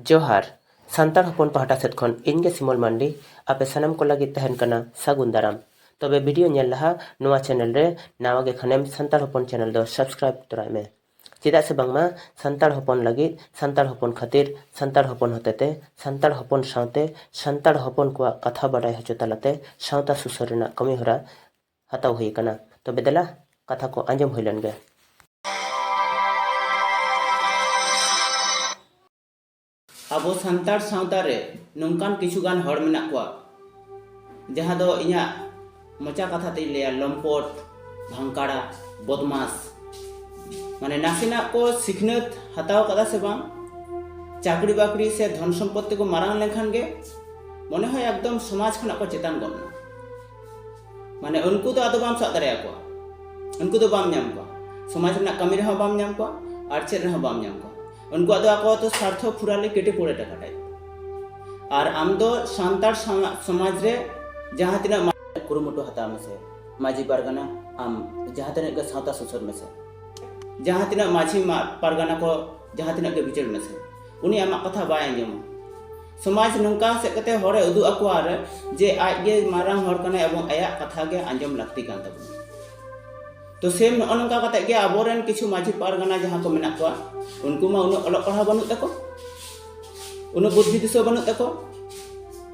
ᱡᱚᱦᱟᱨ ᱥᱟᱱᱛᱟᱲ ᱦᱚᱯᱚᱱ ᱯᱟᱦᱴᱟ ᱥᱮᱫ ᱠᱷᱚᱱ ᱤᱧ ᱜᱮ ᱥᱤᱢᱚᱞ ᱢᱟᱱᱰᱤ ᱟᱯᱮ ᱥᱟᱱᱟᱢ ᱠᱚ ᱞᱟᱹᱜᱤᱫ ᱛᱟᱦᱮᱱ ᱠᱟᱱᱟ ᱥᱟᱹᱜᱩᱱ ᱫᱟᱨᱟᱢ ᱛᱚᱵᱮ ᱵᱷᱤᱰᱤᱭᱳ ᱧᱮᱞ ᱞᱟᱦᱟ ᱱᱚᱣᱟ ᱪᱮᱱᱮᱞ ᱨᱮ ᱱᱟᱣᱟ ᱜᱮ ᱠᱷᱟᱱᱮᱢ ᱥᱟᱱᱛᱟᱲ ᱦᱚᱯᱚᱱ ᱪᱮᱱᱮᱞ ᱫᱚ ᱥᱟᱵᱥᱠᱨᱟᱭᱤᱵ ᱛᱚᱨᱟᱭ ᱢᱮ ᱪᱮᱫᱟᱜ ᱥᱮ ᱵᱟᱝᱢᱟ ᱥᱟᱱᱛᱟᱲ ᱦᱚᱯᱚᱱ ᱞᱟᱹᱜᱤᱫ ᱥᱟᱱᱛᱟᱲ ᱦᱚᱯᱚᱱ ᱠᱷᱟᱹᱛᱤᱨ ᱥᱟᱱᱛᱟᱲ ᱦᱚᱯᱚᱱ ᱦᱚᱛᱮᱛᱮ ᱥᱟᱱᱛᱟᱲ ᱦᱚᱯᱚᱱ ᱥᱟᱶᱛᱮ ᱥᱟᱱᱛᱟᱲ ᱦᱚᱯᱚᱱ ᱠᱚᱣᱟᱜ ᱠᱟᱛᱷᱟ ᱵᱟᱰᱟᱭ ᱦᱚᱪᱚ ᱛᱟᱞᱟᱛᱮ ᱥᱟᱶᱛᱟ ᱥᱩᱥᱟᱹᱨ ᱨᱮᱱᱟᱜ ᱠᱟᱹᱢᱤᱦᱚᱨᱟ ᱦᱟᱛᱟᱣ ᱦᱩᱭ ᱟᱠᱟᱱᱟ᱾ ᱛᱚᱵᱮ ᱫᱮᱞᱟ ᱠᱟᱛᱷᱟ ᱠᱚ ᱟᱸᱡᱚᱢ ᱦᱩᱭ ᱞᱮᱱ ᱜᱮ᱾ ᱟᱵᱚ ᱥᱟᱱᱛᱟᱲ ᱥᱟᱶᱛᱟ ᱨᱮ ᱱᱚᱝᱠᱟᱱ ᱠᱤᱪᱷᱩ ᱜᱟᱱ ᱦᱚᱲ ᱢᱮᱱᱟᱜ ᱠᱚᱣᱟ ᱡᱟᱦᱟᱸ ᱫᱚ ᱤᱧᱟᱜ ᱢᱚᱪᱟ ᱠᱟᱛᱷᱟ ᱛᱮᱧ ᱞᱟᱹᱭᱟ ᱞᱚᱢᱯᱚᱴ, ᱵᱷᱟᱝᱠᱟᱲᱟ, ᱵᱚᱫᱢᱟᱥ᱾ ᱢᱟᱱᱮ ᱱᱟᱥᱮᱱᱟᱜ ᱠᱚ ᱥᱤᱠᱷᱱᱟᱹᱛ ᱦᱟᱛᱟᱣ ᱟᱠᱟᱫᱟ ᱥᱮ ᱵᱟᱝ, ᱪᱟᱹᱠᱨᱤ ᱵᱟᱹᱠᱨᱤ ᱥᱮ ᱫᱷᱚᱱ ᱥᱚᱢᱯᱚᱛ ᱛᱮᱠᱚ ᱢᱟᱨᱟᱝ ᱞᱮᱱᱠᱷᱟᱱ ᱜᱮ ᱢᱚᱱᱮ ᱦᱚᱭ ᱮᱠᱫᱚᱢ ᱥᱚᱢᱟᱡᱽ ᱠᱷᱚᱱᱟᱜ ᱠᱚ ᱪᱮᱛᱟᱱ ᱜᱚᱫ ᱮᱱᱟ᱾ ᱢᱟᱱᱮ ᱩᱱᱠᱩ ᱫᱚ ᱟᱫᱚ ᱵᱟᱢ ᱥᱟᱵ ᱫᱟᱲᱮᱭᱟ ᱠᱚᱣᱟ ᱩᱱᱠᱩ ᱫᱚ ᱵᱟᱢ ᱧᱟᱢ ᱠᱚᱣᱟ ᱥᱚᱢᱟᱡᱽ ᱨᱮᱱᱟᱜ ᱠᱟᱹᱢᱤ ᱨᱮᱦᱚᱸ ᱵᱟᱢ ᱧᱟᱢ ᱠᱚᱣᱟ ᱟᱨ ᱪᱮᱫ ᱨᱮᱦᱚᱸ ᱵᱟᱢ ᱧᱟᱢ ᱠᱚᱣᱟ ᱩᱱᱠᱩᱣᱟᱜ ᱫᱚ ᱟᱠᱚᱣᱟᱜ ᱫᱚ ᱥᱟᱨᱛᱷᱚ ᱯᱩᱨᱟ ᱞᱮ ᱠᱮᱴᱮ ᱯᱚᱲᱮ ᱴᱟᱠᱟ ᱴᱟᱭᱤᱯ ᱟᱨ ᱟᱢ ᱫᱚ ᱥᱟᱱᱛᱟᱲ ᱥᱚᱢᱟᱡᱽ ᱨᱮ ᱡᱟᱦᱟᱸ ᱛᱤᱱᱟᱹᱜ ᱠᱩᱨᱩᱢᱩᱴᱩ ᱦᱟᱛᱟᱣ ᱢᱮᱥᱮ ᱢᱟᱹᱡᱷᱤ ᱯᱟᱨᱜᱟᱱᱟ ᱟᱢ ᱡᱟᱦᱟᱸ ᱛᱤᱱᱟᱹᱜ ᱜᱮ ᱥᱟᱶᱛᱟ ᱥᱩᱥᱟᱹᱨ ᱢᱮᱥᱮ ᱡᱟᱦᱟᱸ ᱛᱤᱱᱟᱹᱜ ᱢᱟᱹᱡᱷᱤ ᱯᱟᱨᱜᱟᱱᱟ ᱠᱚ ᱡᱟᱦᱟᱸ ᱛᱤᱱᱟᱹᱜ ᱜᱮ ᱵᱤᱪᱟᱹᱨ ᱢᱮᱥᱮ ᱩᱱᱤ ᱟᱢᱟᱜ ᱠᱟᱛᱷᱟ ᱵᱟᱭ ᱟᱸᱡᱚᱢᱟ ᱥᱚᱢᱟᱡᱽ ᱱᱚᱝᱠᱟ ᱥᱮᱫ ᱠᱟᱛᱮ ᱦᱚᱲᱮ ᱩᱫᱩᱜ ᱟᱠᱚᱣᱟ ᱟᱨ ᱡᱮ ᱟᱡ ᱜᱮ ᱢᱟᱨᱟᱝ ᱦᱚᱲ ᱠᱟᱱᱟᱭ ᱮᱵᱚᱝ ᱟᱭᱟᱜ ᱠᱟᱛᱷᱟ ᱜᱮ ᱟᱸᱡᱚᱢ ᱞᱟᱹᱠᱛᱤ ᱠᱟᱱ ᱛᱟᱵᱚᱱᱟ ᱛᱚ ᱥᱮᱢ ᱱᱚᱜᱼᱚ ᱱᱚᱝᱠᱟ ᱠᱟᱛᱮ ᱜᱮ ᱟᱵᱚᱨᱮᱱ ᱠᱤᱪᱷᱩ ᱢᱟᱹᱡᱷᱤ ᱯᱟᱨᱜᱟᱱᱟ ᱡᱟᱦᱟᱸ ᱠᱚ ᱢᱮᱱᱟᱜ ᱠᱚᱣᱟ ᱩᱱᱠᱩ ᱢᱟ ᱩᱱᱟᱹᱜ ᱚᱞᱚᱜ ᱯᱟᱲᱦᱟᱣ ᱵᱟᱹᱱᱩᱜ ᱛᱟᱠᱚ ᱩᱱᱟᱹᱜ ᱵᱩᱫᱽᱫᱷᱤ ᱫᱤᱥᱟᱹ ᱵᱟᱹᱱᱩᱜ ᱛᱟᱠᱚ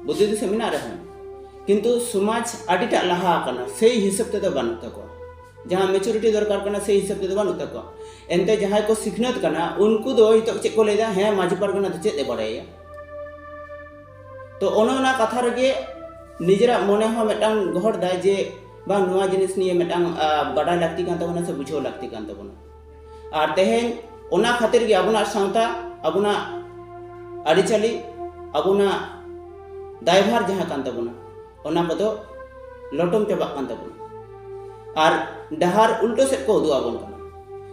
ᱵᱩᱫᱽᱫᱷᱤ ᱫᱤᱥᱟᱹ ᱢᱮᱱᱟᱜ ᱨᱮᱦᱚᱸ ᱠᱤᱱᱛᱩ ᱥᱚᱢᱟᱡᱽ ᱟᱹᱰᱤᱴᱟᱜ ᱞᱟᱦᱟ ᱟᱠᱟᱱᱟ ᱥᱮᱭ ᱦᱤᱥᱟᱹᱵ ᱛᱮᱫᱚ ᱵᱟᱹᱱᱩᱜ ᱛᱟᱠᱚᱣᱟ ᱡᱟᱦᱟᱸ ᱢᱮᱪᱩᱨᱤᱴᱤ ᱫᱚᱨᱠᱟᱨ ᱠᱟᱱᱟ ᱥᱮ ᱦᱤᱥᱟᱹᱵ ᱛᱮᱫᱚ ᱵᱟᱹᱱᱩᱜ ᱛᱟᱠᱚᱣᱟ ᱮᱱᱛᱮ ᱡᱟᱦᱟᱸᱭ ᱠᱚ ᱥᱤᱠᱷᱱᱟᱹᱛ ᱠᱟᱱᱟ ᱩᱱᱠᱩ ᱫᱚ ᱱᱤᱛᱚᱜ ᱪᱮᱫ ᱠᱚ ᱞᱟᱹᱭᱫᱟ ᱦᱮᱸ ᱢᱟᱹᱡᱷᱤ ᱯᱟᱨᱜᱟᱱᱟ ᱫᱚ ᱪᱮᱫ ᱮ ᱵᱟᱲᱟᱭᱟ ᱛᱚ ᱚᱱᱟ ᱚᱱᱟ ᱠᱟᱛᱷᱟ ᱨᱮᱜᱮ ᱱᱤᱡᱮᱨᱟᱜ ᱢᱚᱱᱮ ᱦᱚᱸ ᱢᱤᱫᱴᱟᱝ ᱜᱚᱦᱚᱲ ᱫᱟᱭ ᱡᱮ ᱵᱟᱝ ᱱᱚᱣᱟ ᱡᱤᱱᱤᱥ ᱱᱤᱭᱮ ᱢᱤᱫᱴᱟᱝ ᱵᱟᱰᱟᱭ ᱞᱟᱹᱠᱛᱤ ᱠᱟᱱ ᱛᱟᱵᱚᱱᱟ ᱥᱮ ᱵᱩᱡᱷᱟᱹᱣ ᱞᱟᱹᱠᱛᱤ ᱠᱟᱱ ᱛᱟᱵᱚᱱᱟ ᱟᱨ ᱛᱮᱦᱮᱧ ᱚᱱᱟ ᱠᱷᱟᱹᱛᱤᱨ ᱜᱮ ᱟᱵᱚᱱᱟᱜ ᱥᱟᱶᱛᱟ ᱟᱵᱚᱱᱟᱜ ᱟᱹᱨᱤᱪᱟᱹᱞᱤ ᱟᱵᱚᱱᱟᱜ ᱫᱟᱭᱵᱷᱟᱨ ᱡᱟᱦᱟᱸ ᱠᱟᱱ ᱛᱟᱵᱚᱱᱟ ᱚᱱᱟ ᱠᱚᱫᱚ ᱞᱚᱴᱚᱢ ᱪᱟᱵᱟᱜ ᱠᱟᱱ ᱛᱟᱵᱚᱱᱟ ᱟᱨ ᱰᱟᱦᱟᱨ ᱩᱞᱴᱟᱹ ᱥᱮᱫ ᱠᱚ ᱩᱫᱩᱜ ᱟᱵᱚᱱ ᱠᱟᱱᱟ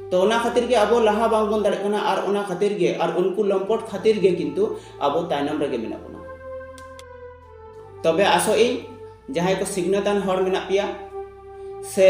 ᱛᱚ ᱚᱱᱟ ᱠᱷᱟᱹᱛᱤᱨ ᱜᱮ ᱟᱵᱚ ᱞᱟᱦᱟ ᱵᱟᱝ ᱵᱚᱱ ᱫᱟᱲᱮᱜ ᱠᱟᱱᱟ ᱟᱨ ᱚᱱᱟ ᱠᱷᱟᱹᱛᱤᱨ ᱜᱮ ᱟᱨ ᱩᱱᱠᱩ ᱞᱚᱢᱯᱚᱴ ᱠᱷᱟᱹᱛᱤᱨ ᱜᱮ ᱠᱤᱱᱛᱩ ᱟᱵᱚ ᱛᱟᱭᱱᱚᱢ ᱨᱮᱜᱮ ᱢᱮᱱᱟᱜ ᱵᱚᱱᱟ ᱛᱚᱵᱮ ᱟᱥᱚᱜ ᱤᱧ ᱡᱟᱦᱟᱸᱭ ᱠᱚ ᱥᱤᱠᱷᱱᱟᱹᱛᱟᱱ ᱦᱚᱲ ᱢᱮᱱᱟᱜ ᱯᱮᱭᱟ ᱥᱮ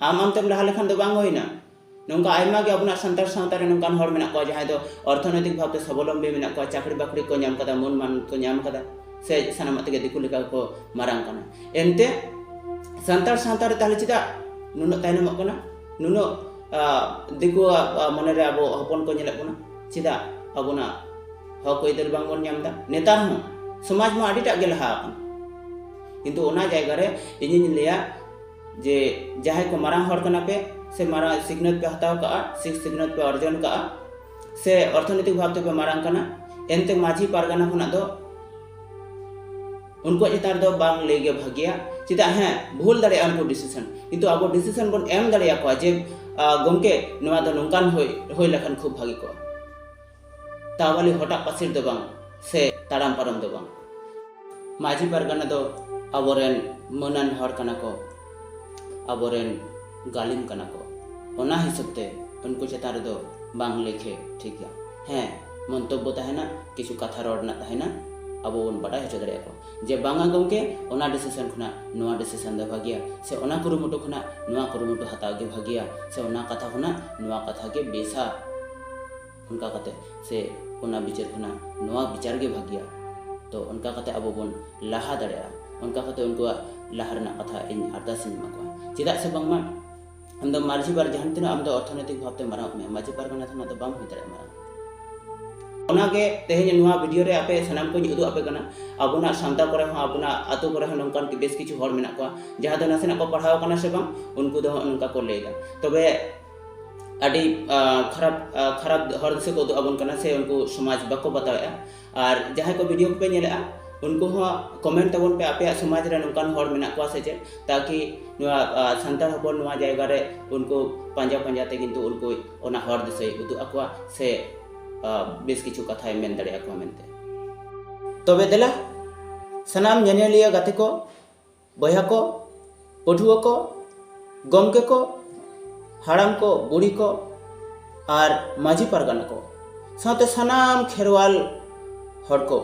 ᱟᱢ ᱟᱢᱛᱮᱢ ᱞᱟᱦᱟ ᱞᱮᱠᱷᱟᱱ ᱫᱚ ᱵᱟᱝ ᱦᱩᱭᱱᱟ ᱱᱚᱝᱠᱟ ᱟᱭᱢᱟ ᱜᱮ ᱟᱵᱚᱱᱟᱜ ᱥᱟᱱᱛᱟᱲ ᱥᱟᱶᱛᱟ ᱨᱮ ᱱᱚᱝᱠᱟᱱ ᱦᱚᱲ ᱢᱮᱱᱟᱜ ᱠᱚᱣᱟ ᱡᱟᱦᱟᱸᱭ ᱫᱚ ᱚᱨᱛᱷᱚᱱᱳᱭᱛᱤᱠ ᱵᱷᱟᱵᱽᱛᱮ ᱥᱟᱵᱚᱞᱚᱢᱵᱤ ᱢᱮᱱᱟᱜ ᱠᱚᱣᱟ ᱪᱟᱹᱠᱨᱤ ᱵᱟᱹᱠᱨᱤ ᱠᱚ ᱧᱟᱢ ᱠᱟᱫᱟ ᱢᱟᱹᱱ ᱢᱟᱱ ᱠᱚ ᱧᱟᱢ ᱠᱟᱫᱟ ᱥᱮ ᱥᱟᱱᱟᱢᱟᱜ ᱛᱮᱜᱮ ᱫᱤᱠᱩ ᱞᱮᱠᱟ ᱠᱚ ᱢᱟᱨᱟᱝ ᱠᱟᱱᱟ ᱮᱱᱛᱮ ᱥᱟᱱᱛᱟᱲ ᱥᱟᱶᱛᱟ ᱨᱮ ᱛᱟᱦᱞᱮ ᱪᱮᱫᱟᱜ ᱱᱩᱱᱟᱹᱜ ᱛᱟᱭᱱᱚᱢᱚᱜ ᱠᱟᱱᱟ ᱱᱩᱱᱟᱹᱜ ᱫᱤᱠᱩᱣᱟᱜ ᱢᱚᱱᱮᱨᱮ ᱟᱵᱚ ᱦᱚᱯᱚᱱ ᱠᱚ ᱧᱮᱞᱚᱜ ᱠᱟᱱᱟ ᱪᱮᱫᱟᱜ ᱟᱵᱚᱱᱟᱜ ᱦᱚᱠ ᱟᱹᱭᱫᱟᱹᱨ ᱵᱟᱝᱵᱚᱱ ᱧᱟᱢ ᱮᱫᱟ ᱱᱮᱛᱟᱨ ᱦᱚᱸ ᱥᱚᱢᱟᱡᱽ ᱢᱟ ᱟᱹᱰᱤᱴᱟᱜ ᱜᱮ ᱞᱟᱦᱟ ᱟᱠᱟᱱᱟ ᱠᱤᱱᱛᱩ ᱚᱱᱟ ᱡᱟᱭᱜᱟ ᱨᱮ ᱤᱧᱤᱧ ᱞᱟᱹᱭᱟ ᱡᱮ ᱡᱟᱦᱟᱸᱭ ᱠᱚ ᱢᱟᱨᱟᱝ ᱦᱚᱲ ᱠᱟᱱᱟ ᱯᱮ ᱥᱮ ᱢᱟᱨᱟᱝ ᱥᱤᱠᱷᱱᱟᱹᱛ ᱯᱮ ᱦᱟᱛᱟᱣ ᱠᱟᱜᱼᱟ ᱥᱮ ᱥᱤᱠᱷᱱᱟᱹᱛ ᱯᱮ ᱚᱨᱡᱚᱱ ᱠᱟᱜᱼᱟ ᱥᱮ ᱚᱨᱛᱷᱚᱱᱤᱛᱤᱠ ᱵᱷᱟᱵ ᱛᱮᱯᱮ ᱢᱟᱨᱟᱝ ᱠᱟᱱᱟ ᱮᱱᱛᱮ ᱢᱟᱹᱡᱷᱤ ᱯᱟᱨᱜᱟᱱᱟ ᱠᱷᱚᱱᱟᱜ ᱫᱚ ᱩᱱᱠᱩᱣᱟᱜ ᱪᱮᱛᱟᱱ ᱨᱮᱫᱚ ᱵᱟᱝ ᱞᱟᱹᱭ ᱜᱮ ᱵᱷᱟᱹᱜᱤᱭᱟ ᱪᱮᱫᱟᱜ ᱦᱮᱸ ᱵᱷᱩᱞ ᱫᱟᱲᱮᱭᱟᱜᱼᱟ ᱩᱱᱠᱩ ᱰᱤᱥᱤᱥᱚᱱ ᱠᱤᱱᱛᱩ ᱟᱵᱚ ᱰᱤᱥᱤᱥᱚᱱ ᱵᱚᱱ ᱮᱢ ᱫᱟᱲᱮᱭᱟᱠᱚᱣᱟ ᱡᱮ ᱜᱚᱢᱠᱮ ᱱᱚᱣᱟ ᱫᱚ ᱱᱚᱝᱠᱟᱱ ᱦᱩᱭ ᱦᱩᱭ ᱞᱮᱠᱷᱟᱱ ᱠᱷᱩᱵ ᱵᱷᱟᱹᱜᱤ ᱠᱚᱜᱼᱟ ᱛᱟᱣᱟᱞᱤ ᱦᱚᱴᱟᱜ ᱯᱟᱹᱥᱤᱨ ᱫᱚ ᱵᱟᱝ ᱥᱮ ᱛᱟᱲᱟᱢ ᱯᱟᱨᱚᱢ ᱫᱚ ᱵᱟᱝ ᱢᱟᱹᱡᱷᱤ ᱯᱟᱨᱜᱟᱱᱟ ᱫᱚ ᱟᱵᱚᱨᱮᱱ ᱢᱟᱹᱱᱟᱱ ᱦᱚᱲ ᱠᱟᱱᱟ ᱠᱚ ᱟᱵᱚᱨᱮᱱ ᱜᱟᱹᱞᱤᱢ ᱠᱟᱱᱟ ᱠᱚ ᱚᱱᱟ ᱦᱤᱥᱟᱹᱵ ᱛᱮ ᱩᱱᱠᱩ ᱪᱮᱛᱟᱱ ᱨᱮᱫᱚ ᱵᱟᱝ ᱞᱮᱠᱷᱮ ᱴᱷᱤᱠᱟ ᱦᱮᱸ ᱢᱚᱱᱛᱚᱵᱵᱚ ᱛᱟᱦᱮᱱᱟ ᱠᱤᱪᱷᱩ ᱠᱟᱛᱷᱟ ᱨᱚᱲ ᱨᱮᱱᱟᱜ ᱛᱟᱦᱮᱱᱟ ᱟᱵᱚ ᱵᱚᱱ ᱵᱟᱰᱟᱭ ᱦᱚᱪᱚ ᱫᱟᱲᱮᱭᱟ ᱠᱚ ᱡᱮ ᱵᱟᱝᱟ ᱜᱚᱢᱠᱮ ᱚᱱᱟ ᱰᱤᱥᱤᱥᱚᱱ ᱠᱷᱚᱱᱟᱜ ᱱᱚᱣᱟ ᱰᱤᱥᱤᱥᱚᱱ ᱫᱚ ᱵᱷᱟᱜᱮᱭᱟ ᱥᱮ ᱚᱱᱟ ᱠᱩᱨᱩᱢᱩᱴᱩ ᱠᱷᱚᱱᱟᱜ ᱱᱚᱣᱟ ᱠᱩᱨᱩᱢᱩᱴᱩ ᱦᱟᱛᱟᱣ ᱜᱮ ᱵᱷᱟᱜᱮᱭᱟ ᱥᱮ ᱚᱱᱟ ᱠᱟᱛᱷᱟ ᱠᱷᱚᱱᱟᱜ ᱱᱚᱣᱟ ᱠᱟᱛᱷᱟ ᱜᱮ ᱵᱮᱥᱟ ᱚᱱᱠᱟ ᱠᱟᱛᱮ ᱥᱮ ᱚᱱᱟ ᱵᱤᱪᱟᱹᱨ ᱠᱷᱚᱱᱟᱜ ᱱᱚᱣᱟ ᱵᱤᱪᱟᱨ ᱜᱮ ᱵᱷᱟᱹᱜᱤᱭᱟ ᱛᱚ ᱚᱱᱠᱟ ᱠᱟᱛᱮ ᱟᱵᱚ ᱵᱚᱱ ᱞᱟᱦᱟ ᱫᱟᱲᱮᱭᱟᱜᱼᱟ ᱚᱱᱠᱟ ᱠᱟᱛᱮ ᱩᱱᱠᱩᱣᱟᱜ ᱞᱟᱦᱟ ᱨᱮᱱᱟᱜ ᱠᱟᱛᱷᱟ ᱤᱧ ᱟᱨᱫᱟᱥ ᱤᱧ ᱮᱢᱟ ᱠᱚᱣᱟ ᱪᱮᱫᱟᱜ ᱥᱮ ᱵᱟᱝᱢᱟ ᱟᱢ ᱫᱚ ᱢᱟᱹᱡᱷᱤ ᱵᱟᱨ ᱡᱟᱦᱟᱸ ᱛᱤᱱᱟᱹᱜ ᱟᱢ ᱫᱚ ᱚᱨᱛᱷᱚᱱᱳᱭᱛᱤᱠ ᱵᱷᱟᱵᱛᱮ ᱢᱟᱨᱟᱝ ᱢᱮ ᱢᱟᱹᱡᱷᱤ ᱯᱟᱨᱜᱟᱱᱟ ᱠᱷᱚᱱᱟᱜ ᱫᱚ ᱵᱟᱢ ᱦᱩᱭ ᱫᱟᱲᱮᱭᱟᱜᱼᱟ ᱢᱟᱨᱟᱝ ᱚᱱᱟᱜᱮ ᱛᱮᱦᱮᱧ ᱱᱚᱣᱟ ᱵᱷᱤᱰᱤᱭᱳ ᱨᱮ ᱟᱯᱮ ᱥᱟᱱᱟᱢ ᱠᱚᱧ ᱩᱫᱩᱜ ᱟᱯᱮ ᱠᱟᱱᱟ ᱟᱵᱚᱱᱟᱜ ᱥᱟᱶᱛᱟ ᱠᱚᱨᱮ ᱦᱚᱸ ᱟᱵᱚᱱᱟᱜ ᱟᱛᱳ ᱠᱚᱨᱮ ᱦᱚᱸ ᱱᱚᱝᱠᱟᱱ ᱵᱮᱥ ᱠᱤᱪᱷᱩ ᱦᱚᱲ ᱢᱮᱱᱟᱜ ᱠᱚᱣᱟ ᱡᱟᱦᱟᱸ ᱫᱚ ᱱᱟᱥᱮᱱᱟᱜ ᱠᱚ ᱯᱟᱲᱦᱟᱣ ᱠᱟᱱᱟ ᱥᱮ ᱵᱟᱝ ᱩᱱᱠᱩ ᱫᱚ ᱱᱚᱝᱠᱟ ᱠᱚ ᱞᱟᱹᱭᱫᱟ ᱛᱚᱵᱮ ᱟᱹᱰᱤ ᱠᱷᱟᱨᱟᱯ ᱠᱷᱟᱨᱟᱯ ᱦᱚᱨ ᱫᱤᱥᱟᱹ ᱠᱚ ᱩᱫᱩᱜ ᱟᱵᱚᱱ ᱠᱟᱱᱟ ᱥᱮ ᱩᱱᱠᱩ ᱥᱚᱢᱟᱡᱽ ᱵᱟᱠᱚ ᱵᱟᱛᱟᱣᱮᱜᱼᱟ ᱟᱨ ᱡᱟᱦᱟᱸᱭ ᱠᱚ ᱵᱷᱤᱰᱤᱭᱳ ᱠᱚᱯᱮ ᱧᱮᱞᱮᱜᱼᱟ ᱩᱱᱠᱩ ᱦᱚᱸ ᱠᱚᱢᱮᱱᱴ ᱛᱟᱵᱚᱱ ᱯᱮ ᱟᱯᱮᱭᱟᱜ ᱥᱚᱢᱟᱡᱽ ᱨᱮ ᱱᱚᱝᱠᱟᱱ ᱦᱚᱲ ᱢᱮᱱᱟᱜ ᱠᱚᱣᱟ ᱥᱮ ᱪᱮᱫ ᱛᱟᱠᱤ ᱱᱚᱣᱟ ᱥᱟᱱᱛᱟᱲ ᱦᱚᱯᱚᱱ ᱱᱚᱣᱟ ᱡᱟᱭᱜᱟ ᱨᱮ ᱩᱱᱠᱩ ᱯᱟᱸᱡᱟ ᱯᱟᱸᱡᱟ ᱛᱮ ᱠᱤᱱᱛᱩ ᱩᱱᱠᱩ ᱚᱱᱟ ᱦᱚᱨ ᱫᱤᱥᱟᱹᱭ ᱩᱫᱩᱜ ᱟᱠᱚᱣᱟ ᱥᱮ ᱵᱮᱥ ᱠᱤᱪᱷᱩ ᱠᱟᱛᱷᱟᱭ ᱢᱮᱱ ᱫᱟᱲᱮ ᱟᱠᱚᱣᱟ ᱢᱮᱱᱛᱮ ᱛᱚᱵᱮ ᱫᱮᱞᱟ ᱥᱟᱱᱟᱢ ᱧᱮᱧᱮᱞᱤᱭᱟᱹ ᱜᱟᱛᱮ ᱠᱚ ᱵᱚᱭᱦᱟ ᱠᱚ ᱯᱟᱹᱴᱷᱩᱣᱟᱹ ᱠᱚ ᱜᱚᱢᱠᱮ ᱠᱚ ᱦᱟᱲᱟᱢ ᱠᱚ ᱵᱩᱲᱦᱤ ᱠᱚ ᱟᱨ ᱢᱟᱹᱡᱷᱤ ᱯᱟᱨᱜᱟᱱᱟ ᱠᱚ ᱥᱟᱶᱛᱮ ᱥᱟᱱᱟᱢ ᱠᱷᱮᱨᱣᱟᱞ ᱦᱚᱲ ᱠᱚ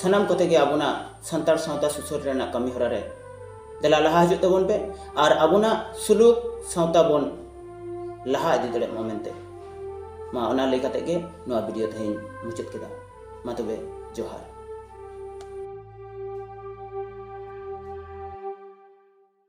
ᱥᱟᱱᱟᱢ ᱠᱚᱛᱮ ᱜᱮ ᱟᱵᱚᱱᱟᱜ ᱥᱟᱱᱛᱟᱲ ᱥᱟᱶᱛᱟ ᱥᱩᱥᱟᱹᱨ ᱨᱮᱱᱟᱜ ᱠᱟᱹᱢᱤ ᱦᱚᱨᱟ ᱨᱮ ᱫᱮᱞᱟ ᱞᱟᱦᱟ ᱦᱤᱡᱩᱜ ᱛᱟᱵᱚᱱ ᱯᱮ ᱟᱨ ᱟᱵᱚᱱᱟᱜ ᱥᱩᱞᱩᱠ ᱥᱟᱶᱛᱟ ᱵᱚᱱ ᱞᱟᱦᱟ ᱤᱫᱤ ᱫᱟᱲᱮᱭᱟᱜ ᱢᱟ ᱢᱮᱱᱛᱮ ᱢᱟ ᱚᱱᱟ ᱞᱟᱹᱭ ᱠᱟᱛᱮ ᱜᱮ ᱱᱚᱣᱟ ᱵᱷᱤᱰᱤᱭᱳ ᱛᱮᱦᱮᱧ ᱢᱩᱪᱟᱹᱫ ᱠᱮᱫᱟ ᱢᱟ ᱛᱚᱵᱮ ᱡᱚᱦᱟᱨ